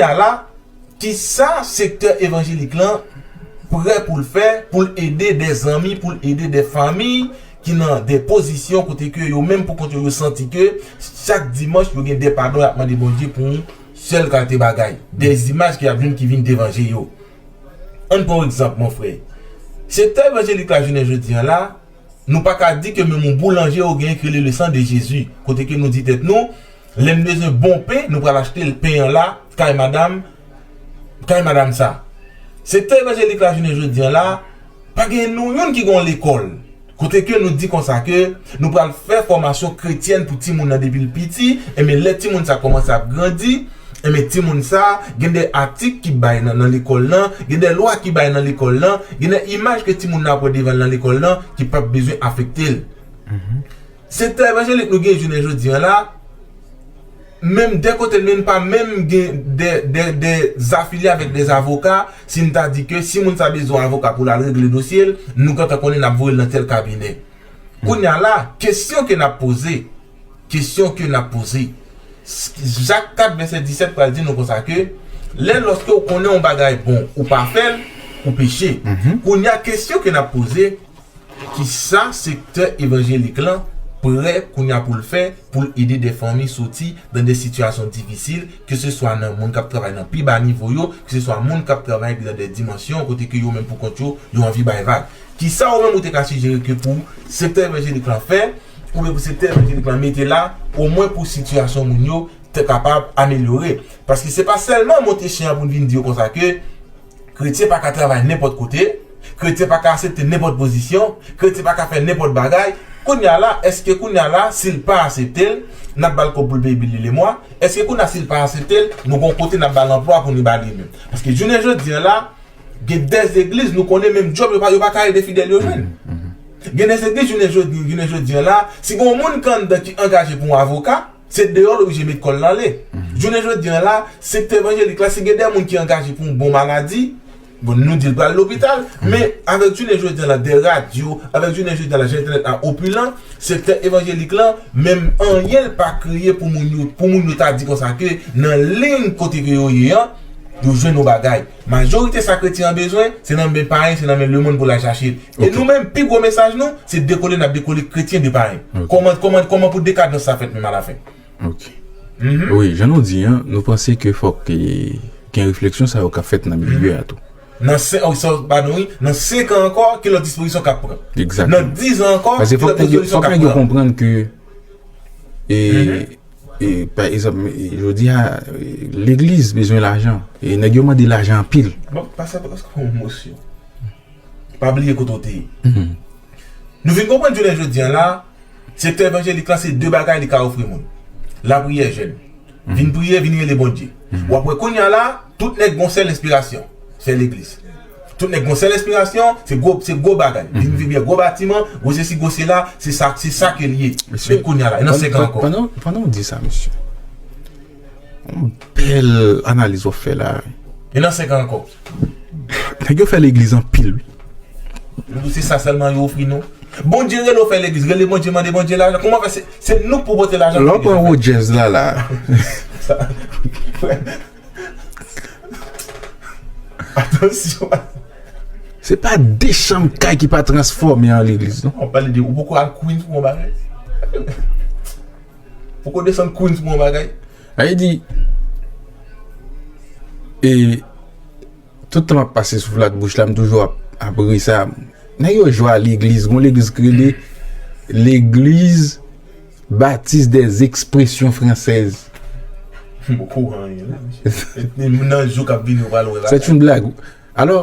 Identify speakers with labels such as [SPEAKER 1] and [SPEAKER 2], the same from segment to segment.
[SPEAKER 1] ta la, ki sa sektè evanjelik lan prè pou l fè pou l ede de zanmi, pou l ede de famiy ki nan de pozisyon kote ke yo menm pou kont yo, yo santi ke chak dimanch yo gen de padon y ap mande Bondye pou yon sèl kalte bagay, de imaj ki ap vin ki vin devan je yo. Ann pran yon egzanp mon frè. Sektè evanjelik la jounen jodi an la, nou pa ka di ke menm yon boulanje yo genyen ki rele le sang de Jezi, kote ke nou di tèt nou, Lèn bezwen bon pen nou pral achte l pen an la kay madam kay madam sa sektè evanjelik la jounen jodi an la pa gen nou youn ki gon lekòl kote ke nou di konsa ke nou pral fè fòmasyon kretyèn pou timoun nan depil piti enben lè timoun sa kòmanse ap grandi enben timoun sa gen de atik ki bay nan nan lekòl lan gen de lwa ki bay nan lekòl lan gen de imaj ke timoun nan ap wè devan l nan lekòl lan ki pap bezwen afekte l. Sektè evanjelik nou gen jounen jodi an la, menm de kote l menm pa menm gen de afilye avèk de avoka, si n ta di ke si moun sa bezwen avoka pou l al regle dosye l, nou gentan konnen n ap voye l nan tèl kabinè. Kounye a la, kesyon ke n ap poze, kesyon ke n ap poze, Jak 4 vèsè 17 pral di nou konsa ke, lè lòske ou konnen yon bagay bon, ou pa fè l, ou peche. Kounye a kesyon ke n ap poze, Kisa sektè evanjelik lan prè kounya pou l fè pou l ede de fanmi soti dan de sitiyasyon difisil ke se swa nan moun kap travay nan pi ba nivo yo ke se swa moun kap travay dan de dimansyon kote ke yo menm pou kont yo yo anvi bay vag kisa ou menm ou te ka sijere ke pou sektè evanjelik lan fè oubyen pou sektè evanjelik lan mete la omwen pou sitiyasyon moun yo te kapab amelyore paske se pa sèlman monte chen an pou n vin di yo konsa ke. Kretyen pa ka travay nenpòt kote, kretyen pa ka asepte nenpòt pozisyon, kretyen pa ka fè nenpòt bagay, kounye a la èske kounye a la si l pa asepte l n ap ba l kòb pou l peye bil li lemwa, èske kounye a si l pa asepte l nou gon kote n ap ba l anplwa pou ni ba li menm? Paske jounen jodi an la gen dèzegliz nou konnen menm djòb yo pa ka ede fidèl yo jwenn. Gen dèzegliz jounen jodi an la si gon moun ki anndan ki angaje pou yon avoka, Se deyò l oblije met kò l ale. Jounen jodi an la, sektè evanjelik la, si gen de moun ki angaje pou yon bon maladi, bon nou di l pral lopital, men avèk jounen jodi an la de radyo, avèk jounen jodi an la jan entènèt la opilan, sektè evanjelik la, menm anyen l pa kreye pou moun yo, pou moun yo ta di konsa ke nan liy kote ke yo ye an, yo jwenn yon bagay. Majorite sa kretyen an bezwen, se nan men payen, se nan men lemonn pou l al chache. E nou menm, pi gwo mesaj nou, se dekole n ap dekole kretyen de payen. Kòman, kòman, kòman pou dekadans sa fèt menm alafen? Ok.
[SPEAKER 2] Wi, jan nou di an, nou panse ke fòk gen refleksyon sa yo k ap fèt nan milye a tou. Nan sen, ok, sa
[SPEAKER 1] w ba nou wi, nan senkan ankò, ki lòt dispozisyon k ap pran? Egzakteman. Nan dizan ankò,
[SPEAKER 2] ki lòt
[SPEAKER 1] dispozisyon k ap pran? Pase fòk
[SPEAKER 2] nèg yo konprann ke e. Pa egzanp, jodi a, legliz bezwen lajan. E nèg yo mande lajan anpil. Bon, pa sa, pa sa
[SPEAKER 1] pou yon mosyon. Pa bliye kote ou te ye. Nou vin konprann jounen jodi a la, sektè evanjelik la se 2 bagay li ka ofri moun. Lapriyè jèn. Vin priye, vin rele Bondye. Ou ap wè kounye a la, tout nèg gen yon sèl enspirasyon, fè legliz. Tout nèg gon sèl enspirasyon, se gwo se gwo bagay, vin vin byen gwo batiman, gwo sesi gwo sela, se sa se sa ke l ye. Men kounya la, nan 5 an ankò. Pandan pandan w di sa
[SPEAKER 2] mesye, yon bèl analiz w ap fè la wi. E nan 5 an ankò?
[SPEAKER 1] Nèg
[SPEAKER 2] yo fè legliz anpil wi. Doudou
[SPEAKER 1] se sa sèlman yo ofri nou? Bondye rele w fè legliz, rele Bondye mande Bondye lajan, kouman fè se nou k pou pote lajan pou legliz la fèt? Lè w pran Rodgers la
[SPEAKER 2] la. Se pa de chanm kay ki pa transfòme an legliz non. Wap pale de ou poko al Queens
[SPEAKER 1] pou yon bagay? Poko desann Queens pou yon bagay? Sa vle di
[SPEAKER 2] e Tout tan map pase sou flat bouch la m toujou ap ap ri sa nèg yo jwe a legliz gon legliz ki rele l'église baptiste des expressions françaises M poko
[SPEAKER 1] wè anyen non nan jou
[SPEAKER 2] kap vini ou pral wè bagay. Sèt yon blag wi alò.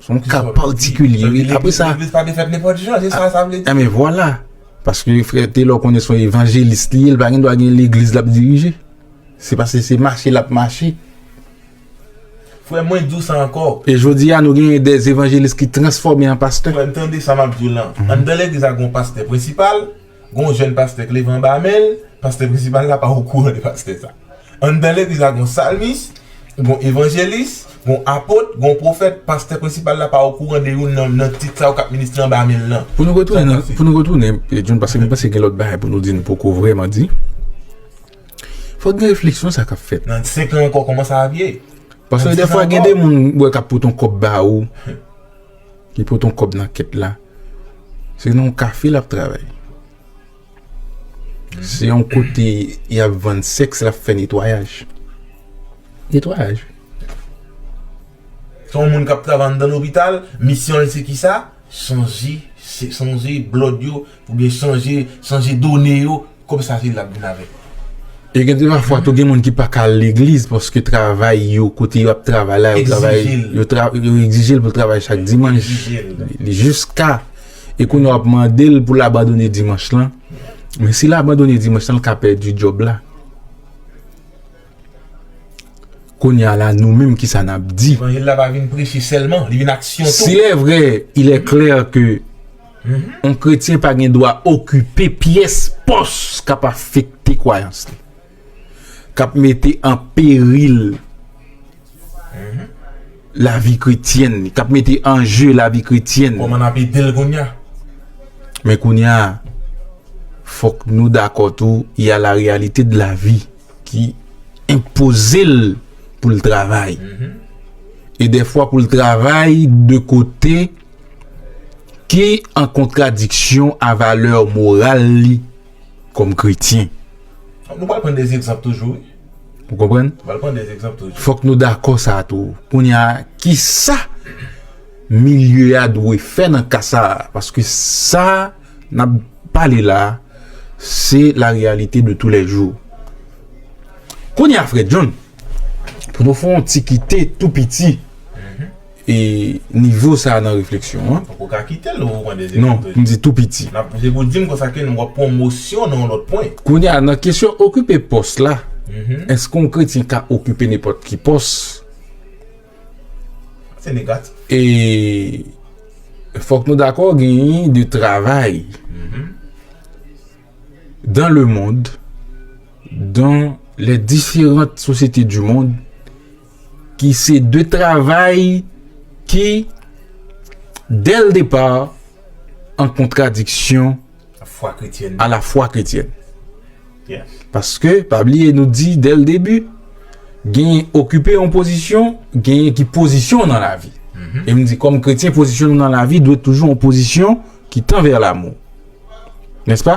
[SPEAKER 2] Son ka patikilye wi. Apre sa. Legliz pa te fèt nenpòt jan,
[SPEAKER 1] se sa sa vle di. Enben vwala.
[SPEAKER 2] Paske frè Telor konnen son evanjelis li ye, li pa gen dwa gen legliz lap dirije. Se paske se mache lap mache.
[SPEAKER 1] Frè mwen di w sa ankò. E jodi a nou genyen
[SPEAKER 2] de evanjelis ki transfòme
[SPEAKER 1] an
[SPEAKER 2] pastè.
[SPEAKER 1] Frè m tande sa
[SPEAKER 2] map
[SPEAKER 1] di w lan.
[SPEAKER 2] Anndan
[SPEAKER 1] legliz la gen
[SPEAKER 2] yon
[SPEAKER 1] pastè prensipal. gen yon jèn pastè k leve anba men l, pastè prensipal la pa okouran de pastè sa. Anndan legliz la gen yon salmis, gen yon evanjelis, gen yon apot, gen yon pwofèt, pastè prensipal la pa okouran de youn nan tit sa yo k ap ministre anba men l lan. Pou nou retounen nan, pou
[SPEAKER 2] nou retounen John paske m panse gen lòt bagay pou nou di nou poko vrèman di, fòk gen refleksyon sa k ap fèt. Nan 5 an ankò kòman
[SPEAKER 1] sa ap ye? Paske dèfwa
[SPEAKER 2] gen de moun m wè k ap pot yon kòb ba ou, Li pot yon kòb nan kèt la. Se nan yon kafe lap travay. Se yon kote yap vann sèks lap fè netwayaj. Netwayaj wi.
[SPEAKER 1] Se yon moun kap travay anndan lopital, misyon l se kisa? Chanje, chanje blòd yo, oubyen chanje, chanje done yo. Kob sa se li lap vin avèl. E gen de
[SPEAKER 2] pafwa tou gen moun ki paka al legliz paske travay yo kote yo ap travay la yo travay yo egzijel pou l travay chak dimanch jiska e kounye a wap mandel pou l abandone dimanch lan men si l abandone dimanch lan l ka pèdi djòb la kounye a la nou menm kisa nap di
[SPEAKER 1] si lè vre ilè
[SPEAKER 2] klè ke Yon kretyen pa gen dwa okipe pyès pòs k ap afekte kwayans li, k ap mete an peril lavi kretyèn li, k ap mete an je lavi kretyèn li. Kòman n ap ede l kounye
[SPEAKER 1] a? Men
[SPEAKER 2] kounye a, fòk nou dakò tou, y a la reyalite de lavi ki enpoze l pou l travay. E dèfwa pou l travay de kote. Ki an kontradiksyon a valè moral li kòm kretyen. Nou pral
[SPEAKER 1] pran 2 egzanp toujou wi. Ou konprann?
[SPEAKER 2] Nou pral pran 2 egzanp toujou.
[SPEAKER 1] Fòk nou dakò sa
[SPEAKER 2] tou. Kounye a, ki sa milye a dwe fè nan ka sa a? Paske sa n ap pale la a, se la reyalite de tou lè jou. Kounye a frè John, pou nou fè yon ti kite tou piti. E nivo sa a nan refleksyon an. Poko ka kite l ou repran
[SPEAKER 1] dezyèm pwen. Non, m di tou piti.
[SPEAKER 2] Se pou di m konsa ke
[SPEAKER 1] nou wap pran yon mosyon nan yon lòt pwen. Kounye a, nan kesyon
[SPEAKER 2] okipe pòs la, èske yon kretyen ka okipe nenpòt ki pòs?
[SPEAKER 1] Se negatif. E
[SPEAKER 2] fòk nou dakò genyen de travay dan le mond, dan lè diferant sosyete di mond. ki se de travay ki dè l depa an kontradiksyon a la fwa kretyèn.
[SPEAKER 1] Paske,
[SPEAKER 2] pa bliye nou di dè l debi, gen okipe yon pozisyon, gen ki pozisyon w nan lavi. E m di kòm kretyen pozisyon nou nan lavi dwe toujou yon pozisyon ki tan vè lamou. Nèspa?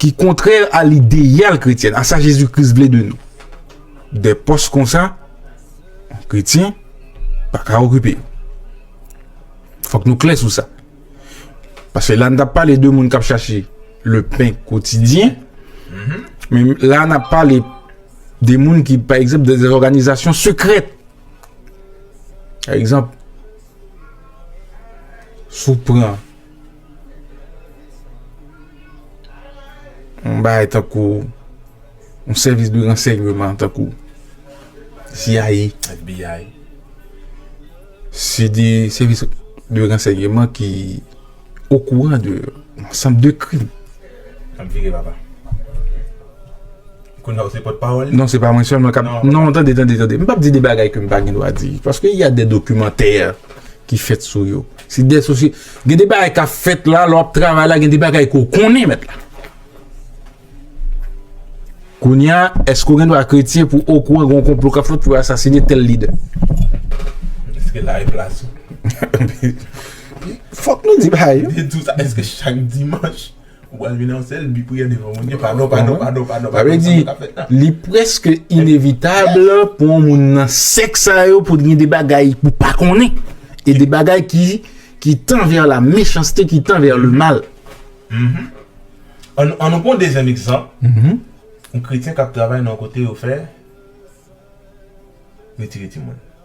[SPEAKER 2] ki
[SPEAKER 1] kontrè
[SPEAKER 2] a lideyal kretyen, a sa Jezi Kris vle de nou. De pòs kon sa, kretyen pa ka okipe yo. Fòk nou klè sou sa. Pase la n tap pale de moun kap chache le pen kotidyen, men la n ap pale de moun ki, pa egzanp, de zè òganizasyon sekrèt. Pa egzanp, sou pran Yon bagay tankou yon sèvis de ransèyman tankou CIA, FBI. Se de sèvis de ransèyman ki okouran de yon ansanm de krim. Sa m vire
[SPEAKER 1] papa. Kounye a ou se pòtpawòl li? Non, se pa mwen sèlman k ap.
[SPEAKER 2] Non, tande, tande, tande. M p ap di de bagay ke m pa gen dwa di. Paske y a de dokimantè ki fèt sou yo. Se de sosye, gen de bagay ka fèt la, lò ap travay la, gen de bagay ke w konnen mèt la. Kounya, eske w gen dwa kretyen pou w okouran gen yon konplo kap fèt pou asasine tèl lidè?
[SPEAKER 1] Eske la e plas ou?
[SPEAKER 2] Fòk nou di bagay yo. Eske
[SPEAKER 1] chak dimanch? Ou pral vin an sèl bi priyè devan Bondye. Padon, padon, padon, padon, padon. Sa vle di,
[SPEAKER 2] li prèske inevitab pou yon moun nan sèk sa yo pou gen de bagay pou pa konnen. E de bagay ki ki tan vè la mechanste, ki tan vè le mal. An nou pran
[SPEAKER 1] dezyèm
[SPEAKER 2] egzanp, yon
[SPEAKER 1] kretyen k ap travay nan yon kote yo fè retire timoun.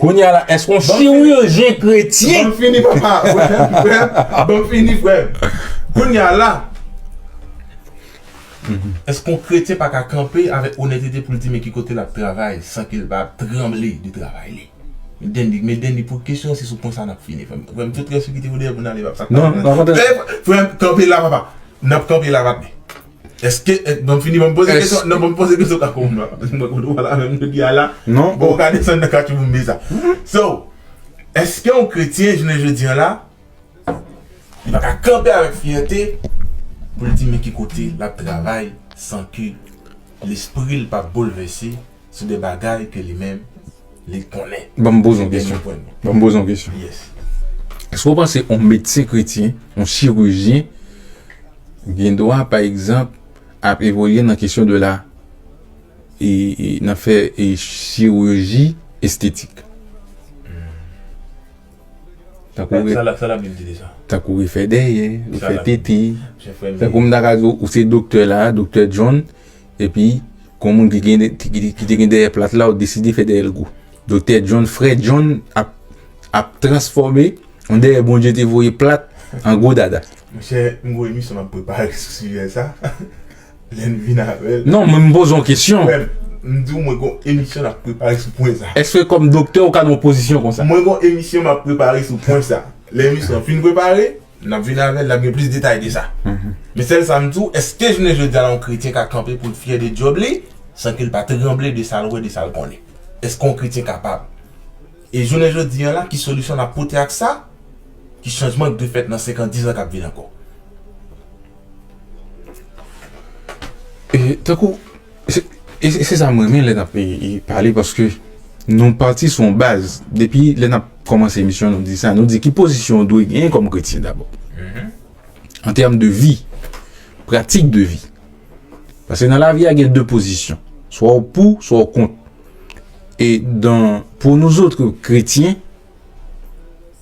[SPEAKER 1] Kounye a la eske yon
[SPEAKER 2] chirujen kretyen. Banm fini
[SPEAKER 1] papa banm fini frem kounye a la eske yon kretyen pa ka kanpe avek onètete poul di men ki kote lap travay san ke li pa ap tranble de travay li Dendy men Dendy pou kesyon se sou pwen sa nap fini frem frem tout res yo kite yo dèyè poun ale papa
[SPEAKER 2] frem
[SPEAKER 1] kanpe la papa nap kanpe la papi. Eske, banm fini banm poze kesyon, nan banm poze kesyon kaka oum la, paske mwen konnen ou pa la menm jodi a la, bon ou ka desann nan
[SPEAKER 2] katchouboumbe
[SPEAKER 1] sa. So, eske yon kretyen jounen jodi an la, li pa ka kanpe avèk fyète pou l di men ki kote l ap travay san ke lespri l pa boulvèse Sou de bagay ke li menm, li konnen. Banm poze
[SPEAKER 2] yon kesyon. Banm poze yon kesyon. Yes.
[SPEAKER 1] Èske ou
[SPEAKER 2] panse yon medsen kretyen, yon chirurgien, gen dwa, pa egzanp, ap evolye nan kesyon de la, e, e, nan fè e chirurji estetik?
[SPEAKER 1] Tankou re. Sa lap, sa lap vin di de sa? Tankou refè dèyè,
[SPEAKER 2] refè tete. Sa lap vin
[SPEAKER 1] di.
[SPEAKER 2] Tankou m ta
[SPEAKER 1] ka di ou, ou se
[SPEAKER 2] doktè la, doktè John. Epi, gon moun ki gen ki te gen dèyè plat la ou deside fè dèyèl gou. Doktè John, frè John ap ap transfòme yon dèyè Bondye te voye plat an gwo dada. Monchè, m gwo
[SPEAKER 1] emisyon m ap prepare sou sijè sa. Lè n vin avè l. Non, men m poze yon kesyon.
[SPEAKER 2] Frè m, m di w mwen
[SPEAKER 1] gon emisyon n ap prepare sou pwen sa. Èske kòm doktè ou ka
[SPEAKER 2] nan yon pozisyon konsa? Mwen gon emisyon m ap
[SPEAKER 1] prepare sou pwen sa. Lè emisyon an fin prepare, N ap vini avè l, n ap gen plis detay de sa. Men sèl sa m di w, èske jounen jodi a la yon kretyen ka kanpe pou l fyè de djòb li san ke l pa tranble de sa l wè, de sa l konnen? Èske yon kretyen kapab? E jounen jodi a la, ki solisyon n ap pote ak sa? Ki chanjman k dwe fèt nan senkan, dizan k ap vini ankò?
[SPEAKER 2] E tankou. Se sa m renmen lè n ap pale paske nou pati sou yon baz. Depi lè n ap kòmanse emisyon nou di sa, nou di ki pozisyon ou dwe genyen kòm kretyen dabò. An tèm de vi, pratik de vi. Paske nan lavi a gen de pozisyon. Swa ou pou, swa ou kont. E dan pou nou zotre kretyen,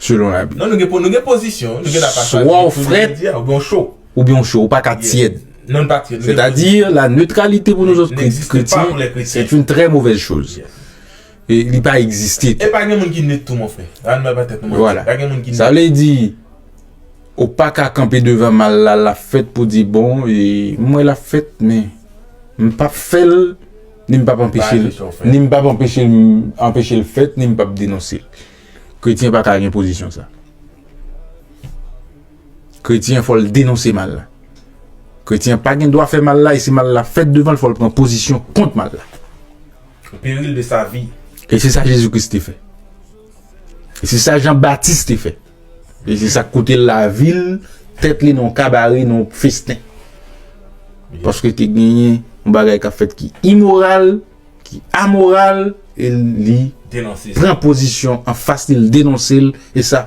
[SPEAKER 2] selon la Bib. Non nou gen nou gen pozisyon
[SPEAKER 1] wi, nou gen dwa pa chwazi Swa w pou frèt jodi
[SPEAKER 2] a, oubyen w cho.
[SPEAKER 1] oubyen w cho, ou pa ka
[SPEAKER 2] tyèd. Non nou pa tyèd. Sètadi,
[SPEAKER 1] la
[SPEAKER 2] neutralité pou nouzot kretyen,
[SPEAKER 1] c'est une
[SPEAKER 2] très
[SPEAKER 1] mauvaise
[SPEAKER 2] chose.
[SPEAKER 1] E li pa
[SPEAKER 2] egziste tou. E pa gen moun ki neut tou
[SPEAKER 1] mon frè. Ann pa bay tèt nou manti. Vwala. Pa
[SPEAKER 2] gen moun ki neut. Sa vle
[SPEAKER 1] di,
[SPEAKER 2] ou pa ka kanpe devan mal la, lap fèt pou di bon, e m wè lap fèt men m pap fè l, ni m pap anpeche l, ni m pap anpeche l anpeche l fèt, ni m pap denonse l. Kretyen pa ka gen pozisyon sa. Kretyen fò l denonse mal la. Kretyen pa gen dwa fè mal la e si mal la fèt devan l fò l pran pozisyon kont mal la. O peril
[SPEAKER 1] de sa vi. E se sa Jezi Kris
[SPEAKER 2] te fè. E se sa Jan Batis te fè. E se sa k koute l lavi l, tèt li nan yon kabare, nan yon festen. Paske te genyen yon bagay k ap fèt ki imoral. ki amoral e li pran pozisyon anfas li, li denonse l e sa.